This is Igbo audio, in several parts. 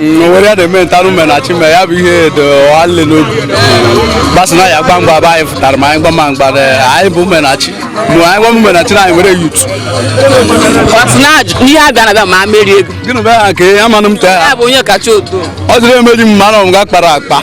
nwere ya na-eme nta umenachi mere ya bụ ihe dị nwanne n'obi gbasa na ya gba mgba bụ anyị fụtara ma anyị gba ma mgba anyị bụ umenachi mụ anyị gwa umenachi na anyị nwere youth ihe a bịa na bịa ma merie ego gịnị bụ ya nke ya manụ m taa ọ dịrị emeji m mmanụ m ga kpara akpa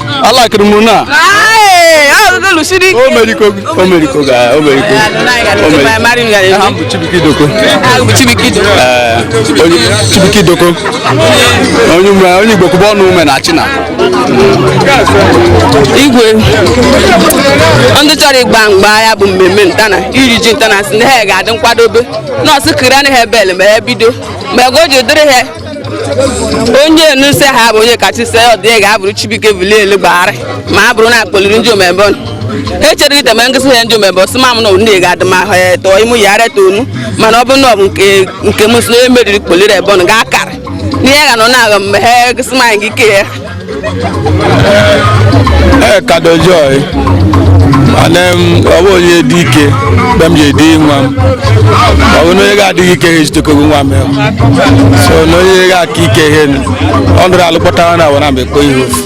alakịrị m na chibuike idoko onye igbo kwụba ọnụ umenachi na igwe ndị chọrọ ịgba mgba ya bụ mmemme nta na iri ji nta na si na ha ga-adị nkwadobe nọọsụ kiri anaghị ebele ma ya bido ma ego ji dịrị ha onye nuse ha bụ onye kacha ise ọ dị ga-abụrụ chibuike bilielu gbagharị ma a bụrụ na akpọliri ndị omebe ọnụ ha echere gị teme ngụsị ha ndị omebe ọsị ma m na onye ga-adị ma ha eto ịmụ ya ara eto onu mana ọ bụ na ọ bụ nke nke m si na onye meriri kpọliri ebe ọnụ ga-akara n'ihe ga nọ na-agha mgbe ha gụsị ma anyị gị ike ya ee kadojoy mana m ọ bụ onye dị ike mgbe m ji edi nwa m ọ bụ na onye ga-adịghị ike ha ejitekogo nwa m ya so na onye ga-aka ike ihe ọ nụrụ alụ kpọtara na awara mgbe kpọ ihe ofu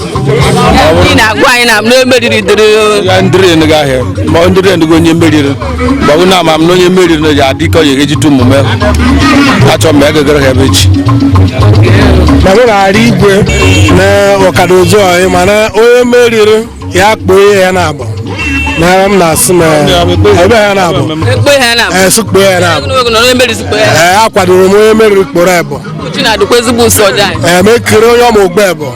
ndị na-agwa anyị na na emeriri dịrị ya ndịrị ndịrị ahịa ma ọ ndịrị ndịgo onye meriri gbawu na ama m na onye meriri na ya adị ike ya ejite omume achọ mgbe egegere ha ebe echi na m na-arị igwe na kadojoy mana onye meriri ya kpoo ihe ya na-agba na m na-asị m ebe ha na-agba ekpe ha na ee sị kpoo ya na-agba ogologo na onye meriri sikpe ya ee akwadoro m onye meriri kporo ebọ uchi na-adịkwa ezigbo ụsọ dị anyị ee mekiri onye ọma ogbe ebọ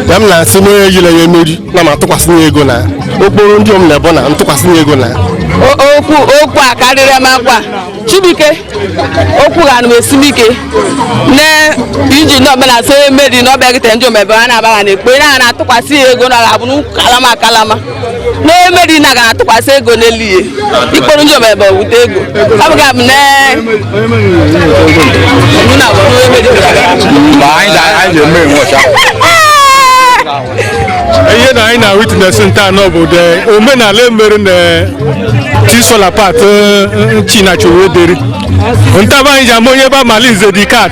ya m na-asị na onye yile ya emeri na m atụkwasị ya ego na okporo ndị m na-ebo na ntụkwasị ya ego na okwu a karịrị m akwa chibuike okwu ga anụ esi m ike na iji ndị ọbụla so emeri na ọbịa gịtere ndị omebe ha na-abaghị na ekpe na a na-atụkwasị ya ego na ọ ga-abụ n'ụkwụ kalama kalama na emeri na ga-atụkwasị ego n'elu ihe ikporo ndị omebe wute ego ọ bụga m na ihe na anyị na witness nta na bụ the omenala emere na things fall apart chinua achebe deri nta ba anyị ji ama onye bụ amalinze the cat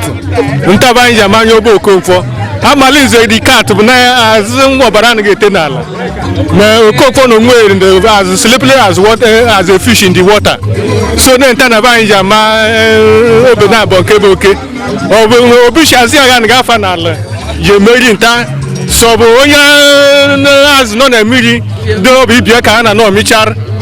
nta ba anyị ji ama onye bụ okonkwo amalinze the cat bụ na azụ nwa ọbara anaghị ete n'ala na okonkwo na onwe as slippery as a fish in the water so na nta na be anyị ji ama eh, obe na abụọ nke bụ oke ọ bụ na obishi azụ agha na gafa n'ala ji emeri nta so ọ bụ onye eh, azụ nọ na mmiri dị ọ bụ ibia ka a na nọ michara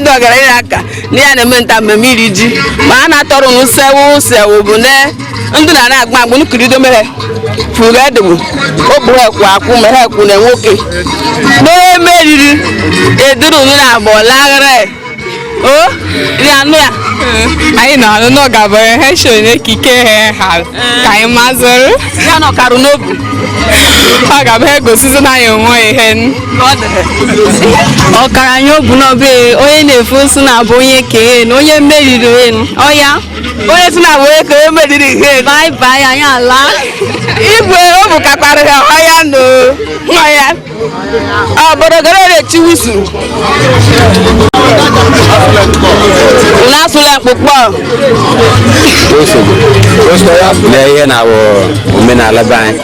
ndị ọgaranya aka na ya na-eme nta mmemme iri ji ma a na-atọrọ unu sewu sewu bụ na ndị na na-agba agba nkirido mere furu edogbu ogbu ekwu akwụ ma ha ekwu na nwoke na-emeriri eduru unu na abụ laghara o ri anụ ya anyị nọ anụ na ọ gabara ha so n'ekike ha ha ka anyị mazụrụ ya nọkarụ n'obi ọ gaba ha egosizi na anyị o nwe ihe ọgaranya obu n'obe onye na-efu nsụ na-abụ onye kee na onye meriri enu ọya onye si na-abụ onye ka onye meriri ihe bai bai anyị ala igwe o bukakwara ya ọya na ọya obodo gara na-echi wisu na-asụla mkpụkpọ lee ihe na-awụ omenala be anyị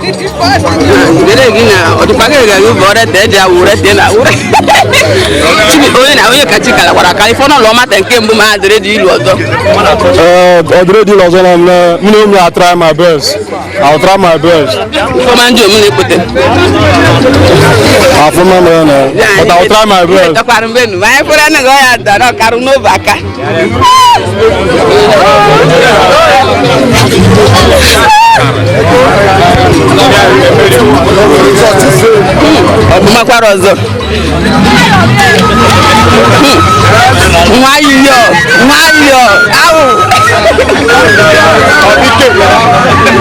Gele gị na ọdịkwa gị ga gị bọrọ te eji awụ ure te na awụ ure. Chibi onye na onye kachi kala kwara ka ifọ n'ụlọ mata nke mbụ ma adịrị dị ilu ọzọ. Ee, ọ dịrị dị ọzọ na mme mụ na ụmụ a-try my best I'll try my best Ifeọma ndị omume ekpete. afụma mere na but I'll try my best Takwara mgbe nu, ma anyị kwere na gị ọ ya dara ọkarụ n'obe aka. ọbụmakwara ọzọ nwayọọ nwayọọ awụ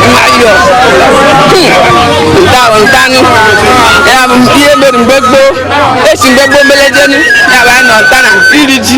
nwayọọ ntawo nta anụ ya bụ ihe mere mgbe gboo e si mgbe gboo melejenu ya bụ anyị nọ nta na iri ji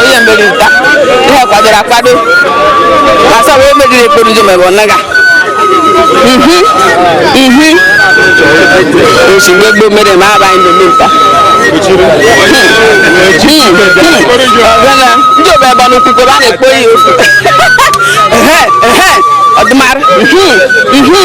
onye mmeri nta ihe kwadoro akwado asa wee meriri e kporo njem ebe ọ na-aga ihi ihi o si mgbe gboo mere ma aba anyị na-eme nta ndị obe ebe n'ukwu ebe a na-ekpo ya ofu ehe ehe ọdụmara ihi ihi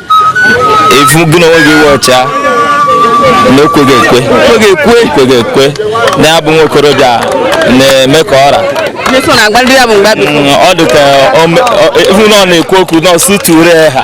ị fụ gị na onwe gị iwe ọcha na ekweghị ekwe ekweghị ekwe ekweghị ekwe na-abụ nwa okorobịa na-eme ka ọra Nyeso na agbalị ya bụ mgbe abịa. Mm, ọ dị ka o me- o- ị fụ na ọ na-ekwu okwu na ọsụ ture ha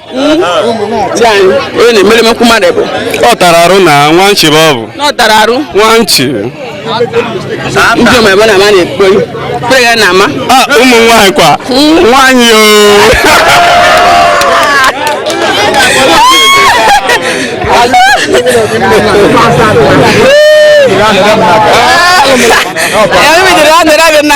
Di anyị onye na-emere mekwu mmadụ bụ ọ tara arụ na nwa nchi bụ ọ bụ na ọ tara arụ nwa nchi ndị ọma ebe na ama na-ekpo kpere ya na ama Ah, ụmụ nwaanyị kwa nwaanyị o ya mebidoro ya dịrị abịa na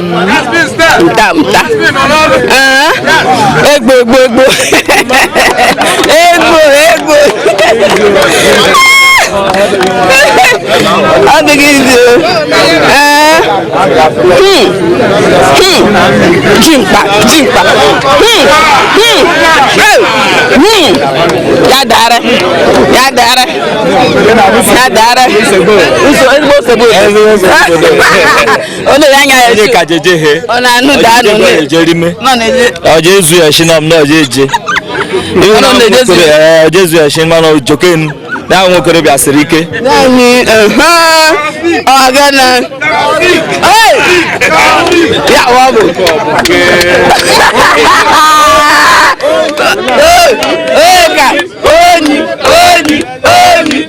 nta nta egbo egbo egbo egbo egbo ọ dịghị izi jimkpa jimkpa ya dara ya dara ya dara ezigbo nsogbu Ọ na-ele anya ya onye etu. ka jeje he Ọ na-anụ da anụ Ọ na-ele. jeje rime Nọ na-ele. ọjọ ezu ya shi nam na ọjọ eje Ọ nọ na-ejezu ya. ọjọ ezu ya shi mana ojokenu na ahụ nwokorobịa siri ike Naanị ehe ọ ga na. Hey! Ya ọ bụ. Hey! Hey! Ka onyi onyi onyi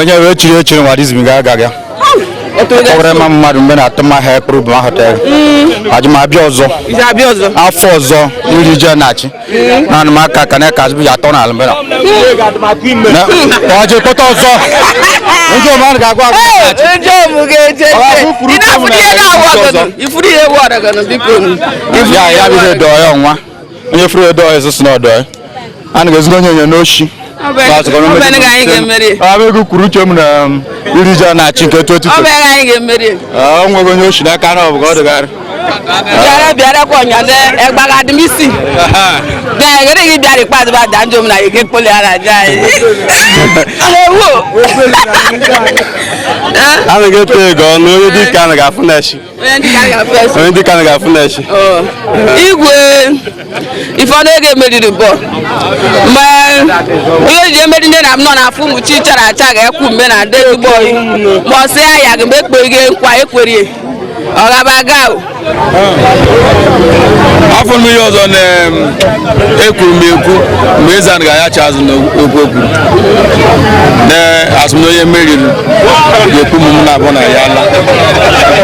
onye wee chiri echiri nwa dizim ga aga ga ọwụrụ ịma mmadụ mgbe na-atụ mma ha ekpụrụ bụ ma họtelụ mm. aja m abịa ọzọ afọ ọzọ iri ji n'Achị naanị m aka ka na-eka azụ ya atọ n'ala mgbe ọjị pụta ọzọ ndị omenala ga-agwa agwa ya ya bụ ihe dọọ ya nwa onye furu edo ọzọ si na ọdọ ya a na ga-ezuru onye onye n'ochi abegụ kwuru uche m na um, iri ji na Achị nke 2020 ọ nweghị onye ochi n'aka na ọ bụ ka ọ dịgharị bịara bịara kwa ọnyọdụ ẹgbàga adịmisi bẹẹ gẹdẹ gị bịara ikpeazụ ba daa njom na ike kpoli ara aja anyị ewu anaghị eto ego ọnụ onye dike anaghị afụ na echi onye ndị ka ga-afụ n'echi igwe ifeọnụ ego emeriri bọ mgbe onye ji emeri nne na m nọ n'afọ ụmụ chi chara acha ga-ekwu mgbe na ndị ezigbo oyi ma ọ sị ya ya ga mgbe ekpeghi nkwa ekwerie ọ gaba gao afọ mmiri ọzọ na ekwuru m ekwu mgbe eze anyị ga-ayacha azụ n'okwu okwu na asị m na onye meriri ga-ekwu m m na-abụ na ya ala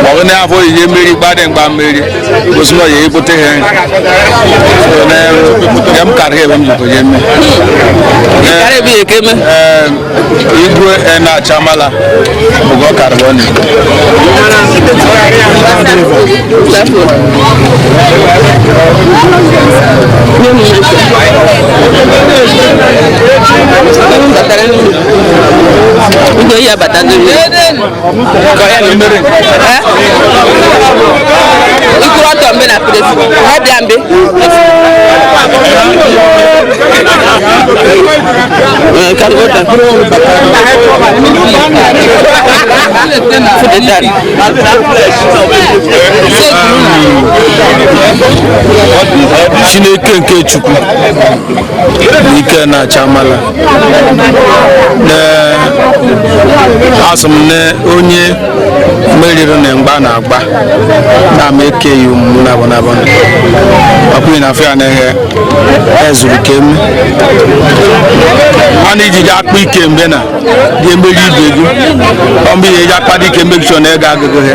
ma ọ bụ na ya afọ onye meri gbadị mgba merie gosi na ọ ya ebute ha ya m karịa ebe m jikọ ya eme Karịa ebe ya ka eme. Ee, igwe na-achamala ugo karbon Ugo ya bata n'ime. ikuru ọtọ mbe na pụrụ ezigbo ha bịa mbe chineke nke chukwu ike na-acha mala asị m na onye meriri na mgba na-agba na ama eke yi ụmụ na abụnabụ ọkpụghị na afọ ya na-eghe ezuru ike eme a na-eji gị akpa ike mgbe na ga-emeri ibe gị ọ mgbe ihe eji akpa dị ike mgbe gị chọrọ na ego agụgụ ha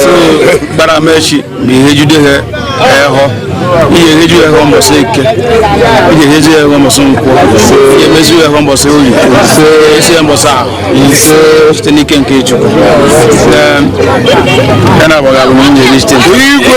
so gbara m echi ma ihe jide ha ehọ ihe eheju ya ehọ mbọsị eke ihe eheju ya ehọ mbọsị nkwọ ihe emezu ya ehọ mbọsị oye esi ya mbọsị ahọ ise site n'ike nke chukwu ya na agbaghị alụm nwunye eri site igwe